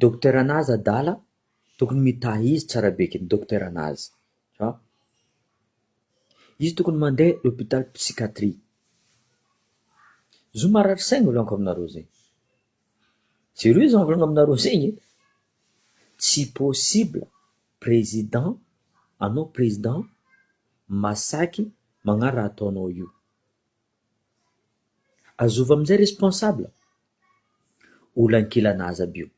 Dokotera Nazy adala tokony mitahy izy tsara be eky Dokotera Nazy fa izy tokony mande hôpital psychiatrie, zo marary saigny volaniko aminareo zegny, zereo zah mivolagna aminareo zegny e, tsy possible président anao président masaky magna raha ataonao io. Azova amizay responsable olankilana aza aby io.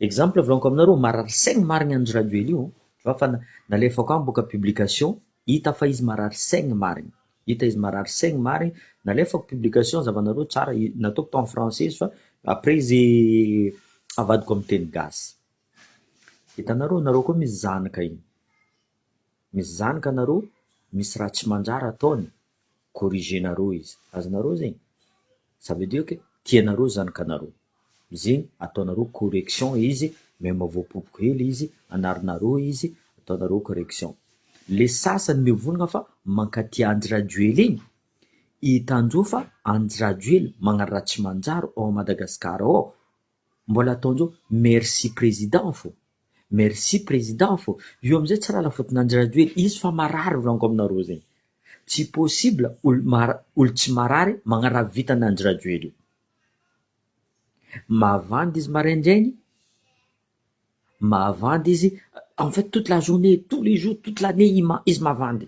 Exemple volaniko aminareo marary saigny marigny anjo rajoely io tu vois fa nalefako any boka publication hita fa izy marary saigny marigny hita izy marary saigny marigny nalefako publication zavanareo tsara nataoko tao am français izy fa après izy avadiko am teny gasy hitanareo nareo koa misy zanaka iny. misy zanaka nareo misy raha tsy mandrara ataony corriger nareo izy azonareo zegny ça veut dire que tianareo zanakanareo zegny ataonareo correction izy même voapopoka hely izy anarinareo izy ataonareo correction le sasany mivonogna fa mankatia andry rajoely igny i tanjo fa andry rajoely magnano raha tsy manjary ao Madagascar ao Mbola ataonjao merci président fô. Merci président fô. Io amizay tsy lala faute nandry rajoely izy fa marary volaniko aminareo zegny. Tsy possible olo mara olo tsy marary magnaraha vitan andry rajoely io. Mavandy izy maraindraigny, mavandy izy en fait toute la journée, tous les jours, toute l'année izy mavandy.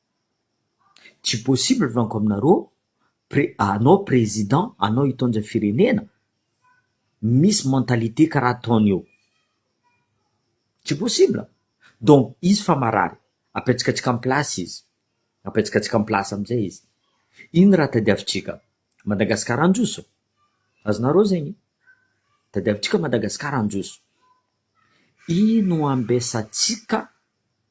Tsy possible franco aminareo pre anao président anao hitondra firenena misy mentalité karaha ataony eo tsy possible donc izy fa marary apetsikatsika am place izy apetsikatsika am place amizay izy iny raha tadiavintsika Madagascar handroso azonareo zegny tadiavintsika Madagascar handroso ino ambesatsika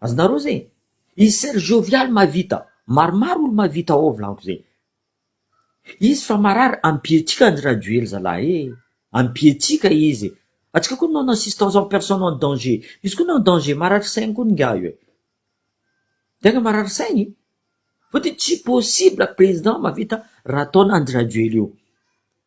Azonareo zay? I sœur Joviale mahavita maromaro olo mahavita ao volagno zay. Izy fa marary ampietsika Andry Rajoely zalahy ee. Ampietsika izy. Atsika koa non assistance en personne en danger. Izy koa non danger marary saigny koa ingahy io e. Tegna marary saigny. Fotony tsy possible président mahavita raha ataon Andry Rajoely io.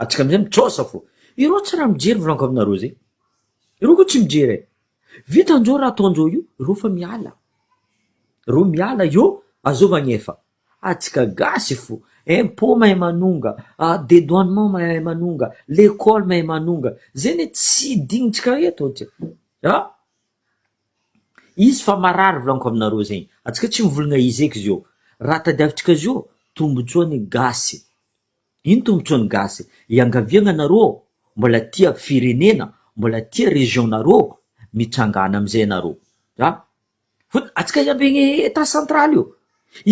Antsika amizay mijaosa fô. Ireo tsy raha mijery mivolanko aminareo zay. Ireo ko tsy mijery e. Vitan jo raha ataon jo io, ireo fa miala. Ireo miala eo azao magnefa. Atsika gasy fô. Impôt mahay manonga, dedoinement mahay manonga, lekôly mahay manonga. Zay ne tsy dignintsika eto atsika. An. Izy fa marary volaniko aminareo zegny atsika tsy mivolagna izy eky zio raha tadiavintsika zio tombotsoany gasy ino tombotsoany gasy iangaviagna anareo mbola tia firenena mbola tia région nareo mitsangana amizay anareo a fôtony atsika iambegny etat central io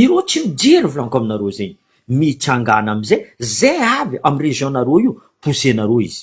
ireo tsy mijery volaniko aminareo zegny mitsangana amizay zay avy amy région nareo io poussenareo izy.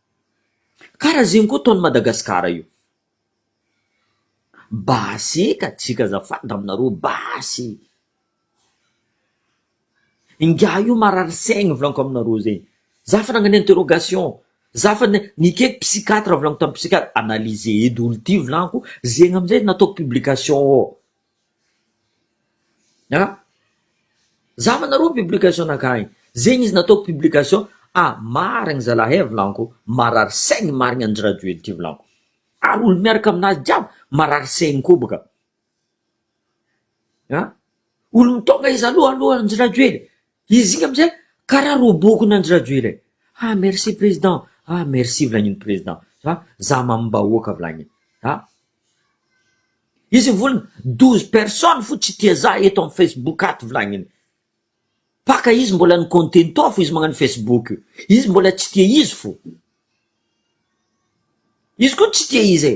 Kara zegny koa ataony Madagascar io. Basy eka tsika azafady raminareo basy e. Ingahy io marary saigny volaniko aminareo zegny. Za fa nagnano interrogation, za fa nikaiky psychiatre volaniko tamin'ny psychiatre analyser eto daholo ty volaniko zegny amizay nataoko publication ao. An! Zava nareo publication ankahy, zegny izy nataoko publication ah marigny zalahy eh volanko marary saigny marigny andry rajoely ty volanko, ary olo miaraka aminazy jiaby marary saigny koa baka, an! Olo mitôgna izy aloha aloha andry rajoely. Izy iny amizay karaha robokin Andry Rajoel e! ah merci président ah merci vilagnin président ah za mamim bahoaka vilagnin ah izy mivolana douze personnes fo tsy tia za eto am facebook ato vilagnin paka izy mbola ny contento fo izy magnano facebook io izy mbola tsy tia izy fo izy koa tsy tia izy e!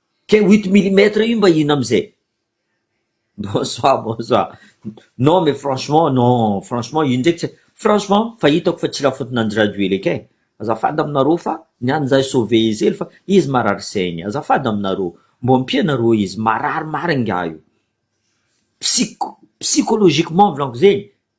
Ke huit millimètres io mba ino amzay? Bonsoir bonsoir non mais franchement non franchement io ndraiky tsy franchement fa hitako fa tsy la faute nandry rajoely eky eh azafady aminareo fa ny any zah sauver izy hely fa izy marary saigny azafady aminareo mbô ampia nareo izy marary marigny ngah io psy- psychologiquement volanko zegny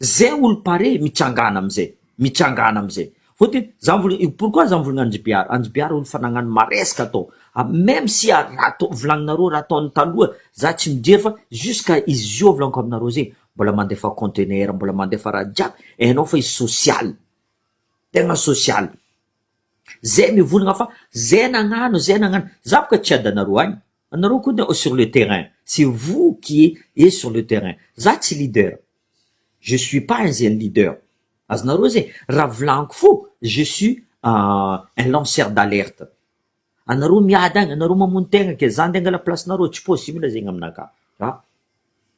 Zay olo pare mitsangana amizay mitsangana amizay vao de za mivol io pourquoi za mivolagna an'i jbr an'i jbr olo fa nagnano maresaka atao a meme si a raha atao volagninareo raha ataony taloha za tsy mijery fa jusqu'à izy zio volagiko aminareo zegny mbola mandefa contenaire mbola mandefa raha jiaby hainao fa izy social tegna social zay mivolagna fa zay nagnano zay nagnano za boka tsy adanareo agny Anareo koa no sur le terrain, c'est vous qui est sur le terrain, za tsy leader, je suis pas un zeny leader, azonareo zay, raha volaniko fo je suis un lanceur d'alerte, anareo miady agny, anareo mamono tegna ke, za nde angala place-nareo, tsy possible zegny aminakahy, ah!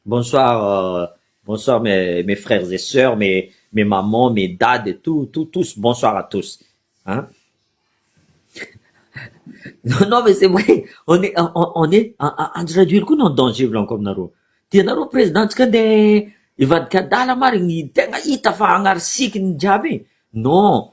Bonsoir bonsoir mes mes frères et sœurs mes mes mamans mes dady et tout tout tous bonsoir à tous hein non non mais c'est vrai on est on est Andry Rajoely koa no en danger volaniko aminareo tianareo présidentsika andeha hivadika adala marigny tegna hita fa agnary sikiny jiaby non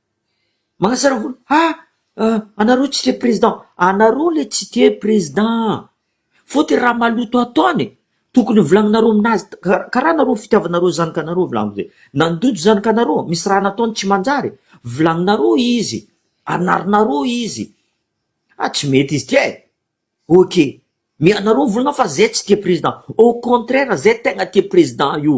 Manasara volo ha anareo tsy tia président, anareo le tsy tia président fotony raha maloto ataony tokony ho volagninareo aminazy karaha nareo fitiavanareo zanakanareo volagny zay nandoto zanakanareo misy raha nataony tsy manjary volagninareo izy anarinareo izy ah tsy mety izy ty e ok mianareo volana fa zay tsy tia président au contraire zay tegna tia président io.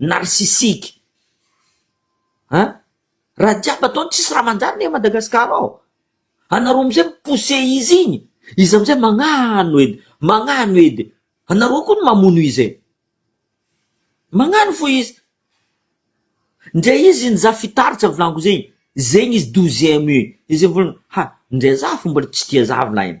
narcissique an! raha jiaby ataony tsisy raha manjary anie Madagascar ao, anareo amizay mi-pousser izy igny, izy amizay magnano edy, magnano edy, anareo koa no mamono izy e! magnano fo izy, ndre izy iny za fitaritsa avy laniko zegny, zegny izy douzième io, izy iny volana ha ndre za fo mbola tsy tia za avy lahiny.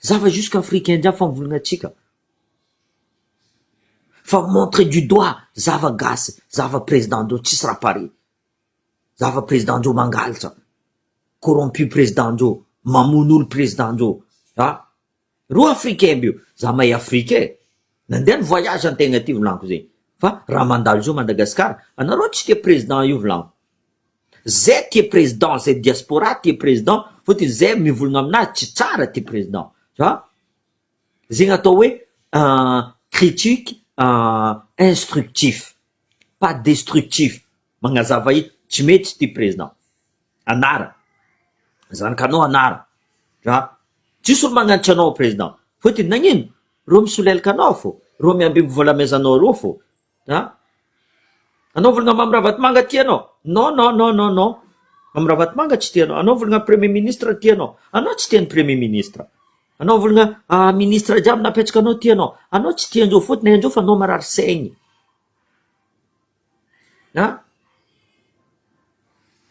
Za fa jusque afrique indien fa mivolagna antsika fa montre du doigt za fa gasy za fa president ndreo tsisy raha pare za fa president ndreo mangalatra corrompu president ndreo mamono olo president ndreo a reo africain aby io za mahay afrique e nandeha ny voyage antegna aty volaniko zegny fa raha mandalo zao madagasikara anareo tsy tia president io volaniko Zay tia président zay diaspora tia président fotony zay mivolagna aminazy tsy tsara ty président fa zegny atao hoe critique instructif pas destructif magnazava hita tsy mety ty président anara zanakanao anara ra tsisy olo magnanatra anao président fotony nagnino reo misolelaka anao fô reo miambimby vola amezanao reo fô An? Anao vologna Mamy Ravatomanga ty anao? Non non non non non. Mamy Ravatomanga tsy tianao. Anao vologna Premier Ministre ty anao? Anao tsy tia ny Premier Ministre. Anao vologna Ministre jiaby nampetsaka anao ty anao? Anao tsy tia anjeo fotony anjeo fa anao marary saigny. An?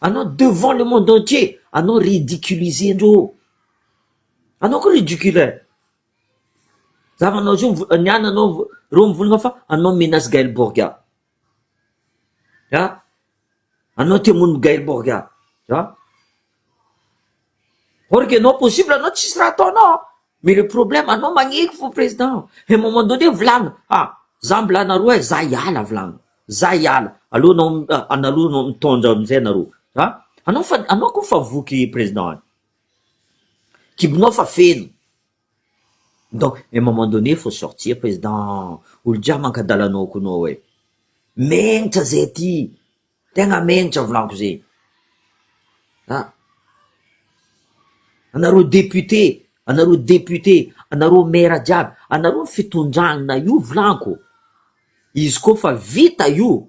Anao devant le monde entier anao ridiculiser andreo. Anao koa ridicule. Za manao izy io ny ahy nanao reo mivolagna fa anao menace Gaël Borgà ah anao te hamono Gaël Borgà ah or que non possible anao tsisy raha ataonao an mais le problème anao magneky fo président un moment donné volagno ah za mbola anareo hay za hiala volagno za hiala aleo anao analogno mitondra amizay nareo ah anao fa anao ko fa voky président. Kibonao fa feno, donc à un moment donné faut sortir président, olo jiaby mankadala anao koa anao e, menitra zay aty, tegna menitra volagno zay, ah anareo député, anareo député, anareo maire jiaby, anareo fitondrana io volagno, izy koa fa vita io.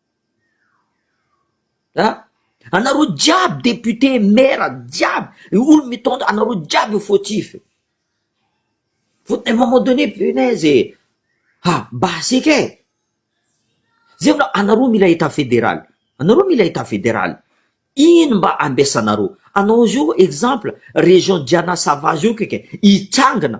Anareo jiaby député, maire jiaby, olona mitondra anareo jiaby no fautif, à un moment donné punaise e! ha basika e! zay vao anareo mila état fédéral, anareo mila état fédéral, ino mba ambesanareo, anao zao exemple région Diana sava zao kay kay hitsangana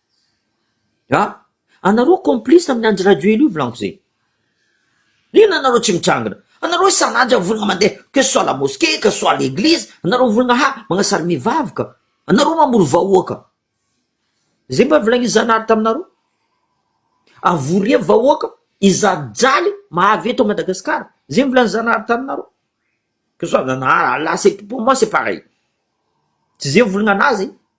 Nga anareo complice amin'ny Andry Rajoelina io volanko zay? Inona anareo tsy mitrangina? Anareo isan'andro zany volana mandeha que ce soit la mosquée, que ce soit l'église, anareo volana ha magnasary mivavy ka, anareo mamory vahoaka, zay mba volagnin'i Zanahary taminareo? Avoria vahoaka izany jaly mahavy eto Madagascar, zay volany Zanahary taminareo? Que ce soit Zanahary, Allah c'est pour moi c'est pareil, tsy zay volana anazy.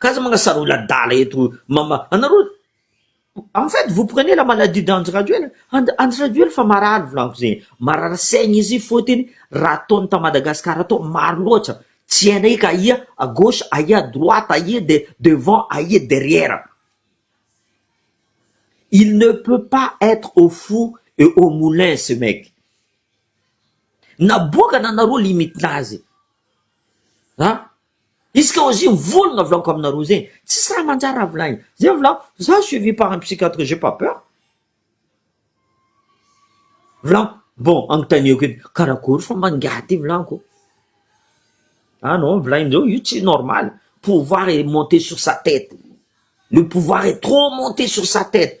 Ka aza manasara olona adala eto mama anareo en fait vous prenez la maladie d'Andry Rajoel Andry Rajoel efa marary volagno zegny marary saigny izy fôtiny raha ataony ta Madagascar atao maro loatra tsy hainay eky aia à gauche aia à droite aia de devant aia derrière il ne peut pas être au four et au moulin ce mec naboakana anareo limite nazy A, izy ka ozy mivolagna volako aminareo zegny, tsisy raha manjary raha volagniko, zay volako, za suivi par un psychiatre j'ai pas peur, volako bon agnontaniako edy karakôry fomba angaha ty volako, ah non volagnindreo io tsy normal, pouvoir est monte sur sa tete, le pouvoir est trop monte sur sa tete.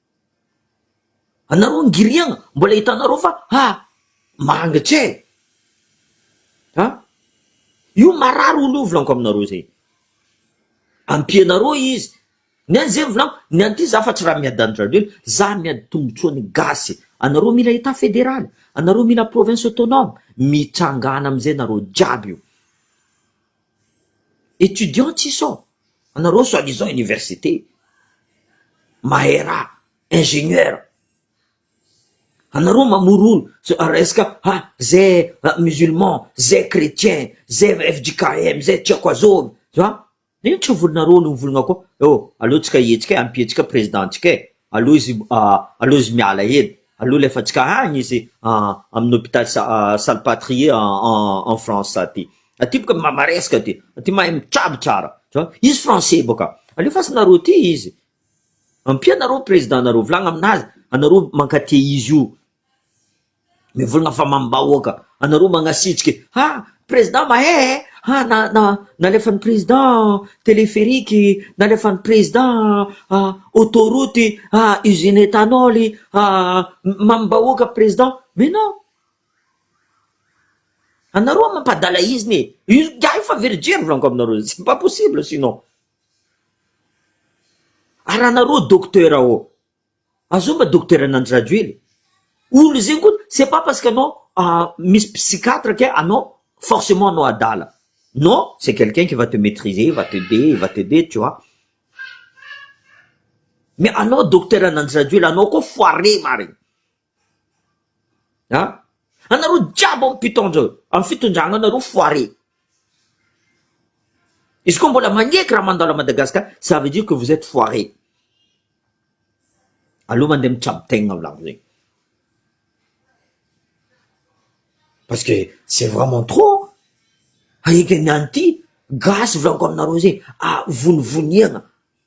Anareo ngiriana mbola hitanareo fa ha mangitra e! Ha? Io marary olo io volaniko aminareo zay. Ampianareo izy. Ny an'i zay volaniko, ny an'ity za fa tsy raha miady an-dRajoelina, za miady tombotsoa ny gasy. Anareo mila Etat federaly, anareo mila province autonome, mitsangana amizay nareo jiaby io. Etudiants tsy sao? Anareo soit disant université, mahay raha, ingénieur, anareo mamorono resaka ha zay musulman, zay chrétien, zay fjkm, zay tsy haiko azôvy, ha ino tsy volinareo no mivolagna koa, eo aleo tsika hihetsika e, ampio antsika président antsika e, aleo izy aleo izy miala hely, aleo alefa antsika agny izy amin'ny hôpital Salpatrie en France aty. Aty boka ma maresaka aty, aty mahay mitrabo tsara, tu vois, izy français boka, alefasinareo aty izy, ampianareo président nareo, volagna aminazy, anareo mankatia izy io, mivolagna fa mamim-bahoaka, anareo magnasitriky, ha président mahay eh, ha na na nalefan'ny président téléphérique, nalefan'ny président auto route, ha usine éthanol, ha mamim-bahoaka président, mais non. Anareo ho'a mampadala izny e! Io ingahy io fa virjiny volaniko aminareo, c'est pas possible sinon. Ary anareo docteur ô, azony mba docteur an' Andry Rajoely e! Olona zegny koa c'est pas parce que anao misy psychiatre ke anao forcement anao adala, non, c'est quelqu'un qui va te maitriser, il va t'aider, il va t'aider tu vois, mais anao docteur an' Andry Rajoely anao koa foire marigny. An! Anareo jiaby ao mpitondra eo, amin'ny fitondrana anareo foire. Izy koa mbola magneky raha mandalo à Madagascar, ça veut dire que vous êtes foire. Aleo mandeha mitrabo tegna ao lavonay. Parce que c'est vraiment trop. Ahiaky ny any ity, gasy volaniko aminareo zegny, a vonivoniagna.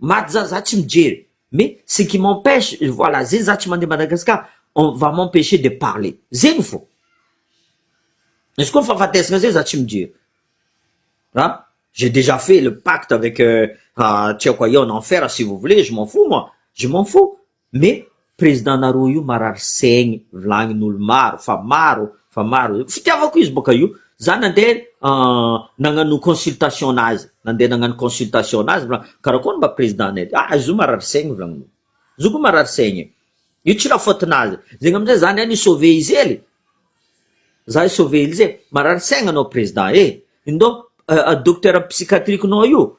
Maty za za tsy mijery mais ce qui m'empêche voilà zay za tsy mandeha Madagascar on va m'empêcher de parler zegny fô izy koa fahafatesana zay za tsy mijery an j'ai déjà fait le pacte avec tsy haiko aia en enfer si vous voulez je m'en fous moi je m'en fous Me président nareo io marary saigny vilagnin'olo maro fa maro fa maro zay fitiavako izy boka io za nande nagnano consultation nazy nande nagnano consultation nazy fa karakôry mba président nay ty ah izy io marary saigny vilagnin'olo izy io ko marary saigny io tsy la faute nazy zegny amizay za ndray ni sauver izy hely za i sauver izy e marary saigny anao président e indao docteur psychiatrique nao io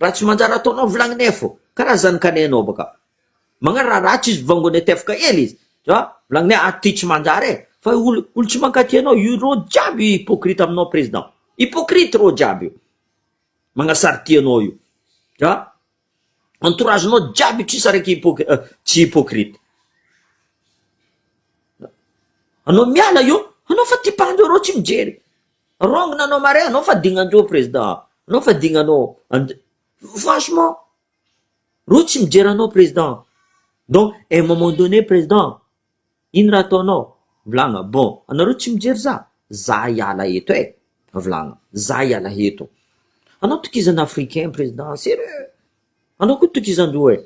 Raha tsy manjary ataonao vilagny nef ô. Karaha zany ka neh anao baka. Magnano raha ratsy izy vongo anay tefka ela izy. Za, vilagny neh ato ty tsy manjary e. Fa io olo, olo tsy mankaty anao io rô jiaby hypocrite aminao président. Hypocrite rô jiaby io. Magnasarty anao io. Za, entourage nao jiaby io tsisy araiky hypoc, tsy hypocrite. Anao miala eo, anao fa ty mpandro arô tsy mijery. Wrong nanao marin anao fa digna anjo president a! Anao fa digna anao and franchement reo tsy mijery anao president donc un moment donné president ino raha ataonao? Mivolagna bon anareo tsy mijery za? Za hiala eto e! Mivolagna za hiala eto! Anao tokizana africain president serieux! Anao koa tokizanjo e!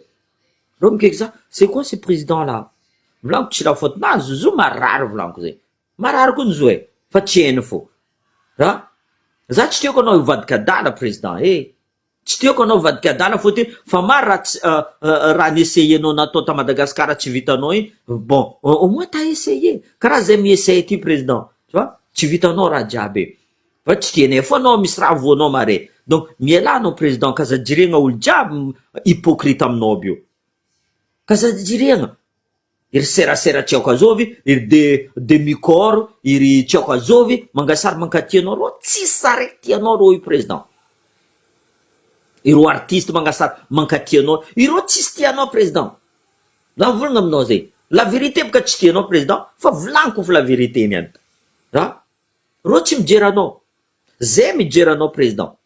Reo mikaiky za c'est quoi ce president là? Mivolagna ko tsy la faute nazy, zo marary volaniko zay! Marary koa ny zo e! Fa tsy hainy fo. An! Za tsy tiako anao hivadika adala président eh! Tsy tiako anao hivadika adala fotony fa maro raha tsy raha ni-essayer-nao natao ta Madagascar tsy vitanao iny, bon au moins t'as essayé! Karaha zay mi-essaye ty président tu vois, tsy vitanao raha jiaby e! Fa tsy tianay fo anao misy raha voanao mare! Donc mialà anao président ka aza jiregna olo jiaby hypocrite aminao aby io! Ka aza jiregna! Iry serasera tsy aoka azovy iry de demi corps iry tsy aoka azovy mangasary mankaty anao reo tsisy sary aty anao reo i président ireo artiste mangasary mankaty anao ireo tsisy ty anao président za volagna aminao zay la vérité boka tsy tianao président fa volagniko fa la vérité niany a reo tsy mijery anao zay mijery anao président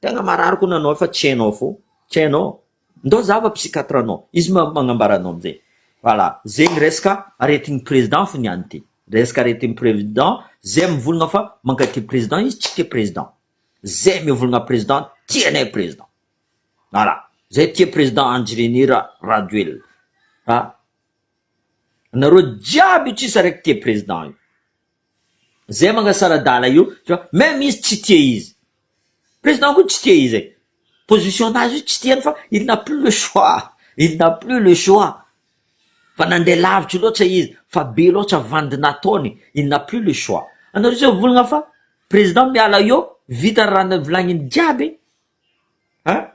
Tena marary ko nanao fa tsy hainao fo tsy hainao ndao zava psychiatre anao izy magnambara anao amzay voilà zegny resaka aretigny président fo niany ty resaka aretigny prévident zay mivolagna fa mankatia président izy tsy tia président zay mivolagna président tsy anay président voilà zay tia président andjirenira rajoelina fa anareo jiaby io tsisy araiky tia président io. Zay mangasaradala io tu vois meme izy tsy tia izy président koa tsy tia izy e position nazy io tsy tiany fa il n'a plus le choix il n'a plus le choix fa nandeha lavitra loatra izy fa be loatra vandy nataony il n'a plus le choix anareo zay volagna fa président miala eo vita ny raha volagniny jiaby a.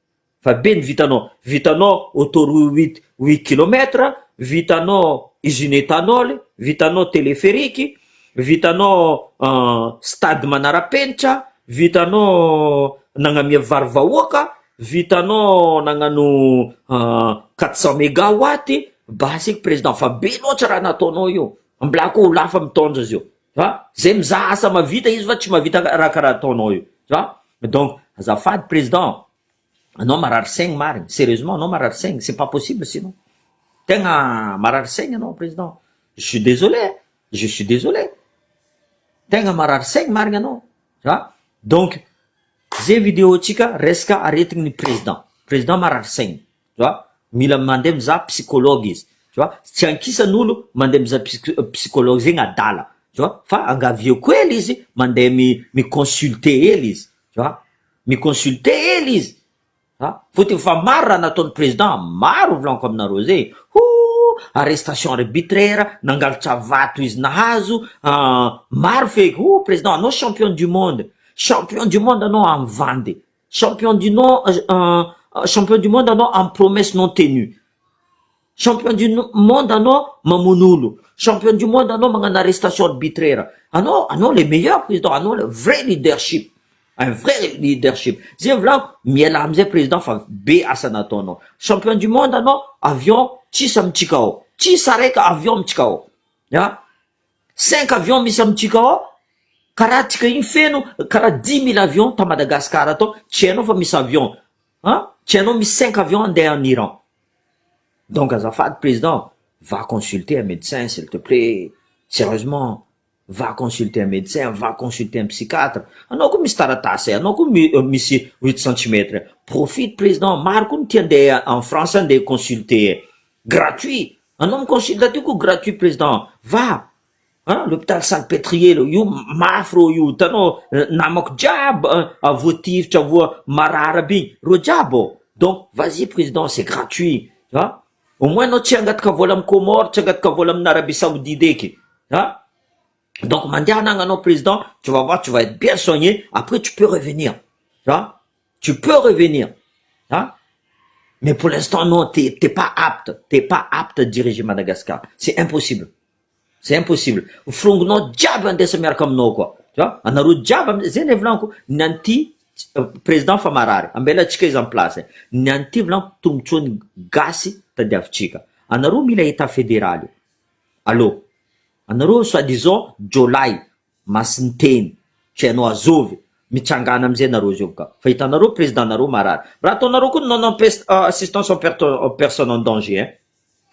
Fa be ny vitanao. Vitanao autoroute huit kilomètre, vitanao usine ethanol, vitanao téléphérique, vitanao stade manarapenitra, vitanao nagnamia vary vahoaka, vitanao nagnano quatre cent mega watt, basy eky président fa be loatra raha nataonao io, mbola akoho lafa mitondra zio. va zay mizaha asa mavita izy va tsy mavita raha karaha ataonao io va donc azafady president anao marary saigny marigny serieusement anao marary saigny c'est pas possible sinon tegna marary saigny anao president je suis désolé eh. je suis désolé tegna marary saigny marigny anao va donc ze video tsika resaka aretigny ny president president marary saigny tu vois, mila mandeha mizaha psychologue izy, tu vois, tsy ankisany olo mandeha mizaha psy- psychologue zegny adala, tu vois, fa angavieko hely izy mandeha mi- mi consulter hely izy, tu vois, mi consulter hely izy, a fotony fa maro raha nataon'ny président, maro volaniko aminareo zay e, hoo, arrestation arbitraire, nangalatra vato izy nahazo, an, maro feky, oh, président anao champion du monde, champion du monde anao amin'ny vandy. Champion du non champion du monde anao am promesse non tenue. Champion du monde anao mamono olo. Champion du monde anao magnano arrestation arbitraire. Anao anao le meilleur président anao le vrai leadership. Un vrai leadership. Zay volagno mialà amizay président fa be asa nataonao. Champion du monde anao avion tsisy amitsika ao. Tsisy araika avion amitsika ao. An. Cinq avions misy am tsika ao karaha tsika iny feno karaha dix mille avions ta Madagascar atao tsy hainao fa misy avions an tsy hainao misy cinq avions andeha en Iran donc azafady président va consulter un médecin s'il te plait sérieusement va consulter un médecin va consulter un psychiatre anao ko misy taratasy e anao ko misy huit centimètres profite président maro ko ny tia andeha en France andeha consulter e Gratuit! Anao mi-consulte aty koa gratuit président va a l'hôpital salpêtrier leo io mafy reo io hitanao namako jiaby a voatifitra voa marary aby iny reo jiaby ao donc vas y président c'est gratuit a au moins anao tsy hangataka vola am comore tsy hangataka vola amin arabie saoudite eky a donc mandehana agny anao président tu vas voir tu vas être bien soigner après tu peux revenir a. tu peux revenir an mais pour l'instant non t'es t'es pas apte t'es pas apte à diriger Madagascar c'est impossible c'est impossible firongonao jiaby andesa miaraka aminao koa tu vois anareo jiaby am- zay le volaniko ny an'ity président fa marary ambela antsika izy en place ny an'ity volaniko tombontsoa ny gasy tadiavintsika anareo mila état fédéral io allo anareo soi disant jiolahy Masinteny, tsy hainao azov e! Mitsangana amizay nareo zov ka! Fa hitanareo président nareo marary! Raha ataonareo koa ny non empeste assistance en perte en personne en danger hein!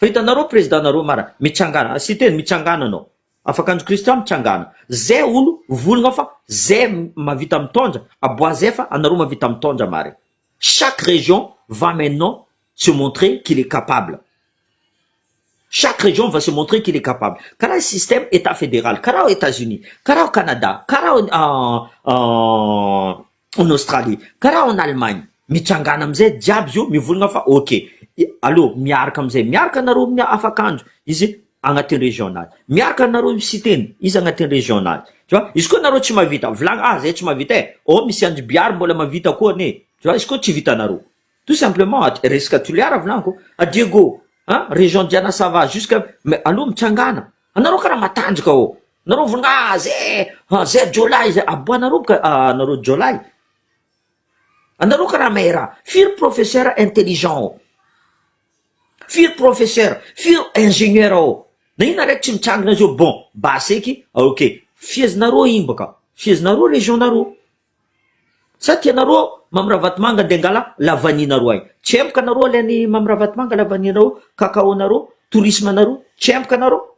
Fa hitanareo président nareo marary! Mitsangana, Siteny mitsangana anao! Afaka andry Christian mitsangana! Zay olo volgna fa zay mavita mitondra! Aboazefa anareo mavita mitondra marigny! Chaque région va maintenant se montrer qu'il est capable chaque région va se montrer qu'il est capable karaha système état fédéral karaha ao Etats Unis karaha ao Canada karaha ao en Australie karaha ao en Allemagne mitsangana amizay jiaby izy io mivolagna fa ok allo miaraka amizay miaraka nareo mia afakanjo izy agnatin'ny région nazy miaraka nareo io Siteny izy agnatin'ny région nazy tu vois izy koa nareo tsy mahavita volagna ah zay tsy mahavita eh oh misy andry Bihary mbola mahavita koa anie tu vois izy koa tsy vitanareo Tout simplement at resaka Toliara volaniko a Diego a région Diana ça va jusque mais alou mitsangana anareo karaha matanjaka ô nareo vonga a ze a ze jiolahy ze aboanareo boka a anareo jiolahy anareo karaha mahay raha firy professeur intelligent ô firy professeur firy ingénieur ô na inona araiky tsy mitsangana zao bon base eky ok fiezinareo iny boka fiezinareo région nareo Sa tia nareo Mamy Ravatomanga de angala la vanille nareo ay. Tsy empoka nareo ale any Mamy Ravatomanga la vanille nareo, cacao nareo, tourisme nareo, tsy empoka nareo.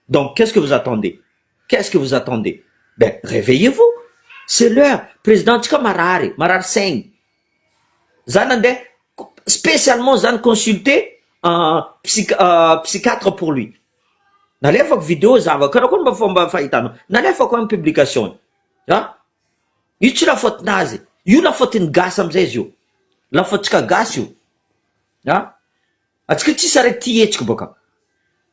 Donc qu'est-ce que vous attendez? Qu'est-ce que vous attendez? Ben reveillez vous! C'est l'heure! Président ntsika marary, marary saigny. Za nandeha spécialement za ni consulter psy- psychiatre pour lui. Nalefako video za avy akao, karakory mba fomba fahitanao? Nalefako any publication an! Io tsy lafaotinazy, io lafaotin'ny gasy amizay izy io, lafaotsika gasy io a, atsika tsisy araiky tia hetsika baka,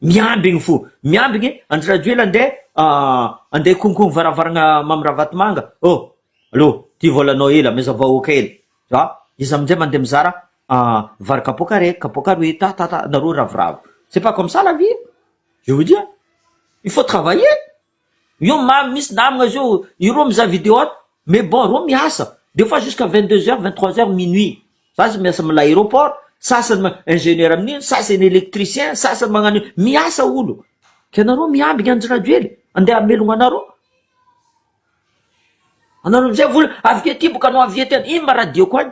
miambigny fo, miambigny Andry Rajoela ande ande konkogny varavaragna Mamy Ravatomanga ô, aleo ty volanao ela meza vahoaka ela a, izy amizay mande mizara vary kapoaka raiky, kapoaka roy, ta ta ta nareo ravoravo, c'est pas comme ça la vie, je vous dis, il faut travailler. Io mamy mintsy namagna zio ireo mizaha video ato mais bon reo miasa des fois jusqu'à vingt deux heures vingt trois heures minuit za zao miasa amina aeroport sasany ma ingénieur amin'iny sasany électricien sasany magnano io miasa olo ka nareo miambigna andry rajoely andeha hamelogna anareo anareo amizay vola avy aty boka anao avy aty any ino ma radioko any.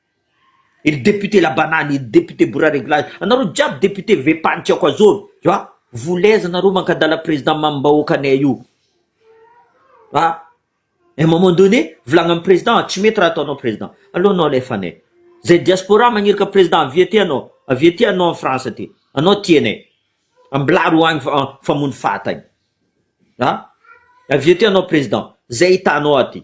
Ery député labanany, ery député bourra réglage, anareo jiaby député vepany tsy akoazovy fa voulez nareo mankadala président mamimbahoaka anay io fa un moment donné volagna am président tsy mety raha ataonao président aleo anao alefa anay zay diaspora magniraka président avia aty anao avia aty anao am France aty anao tia anay ambilary ho agny fa famono fata agny a avia aty anao président zay hitanao aty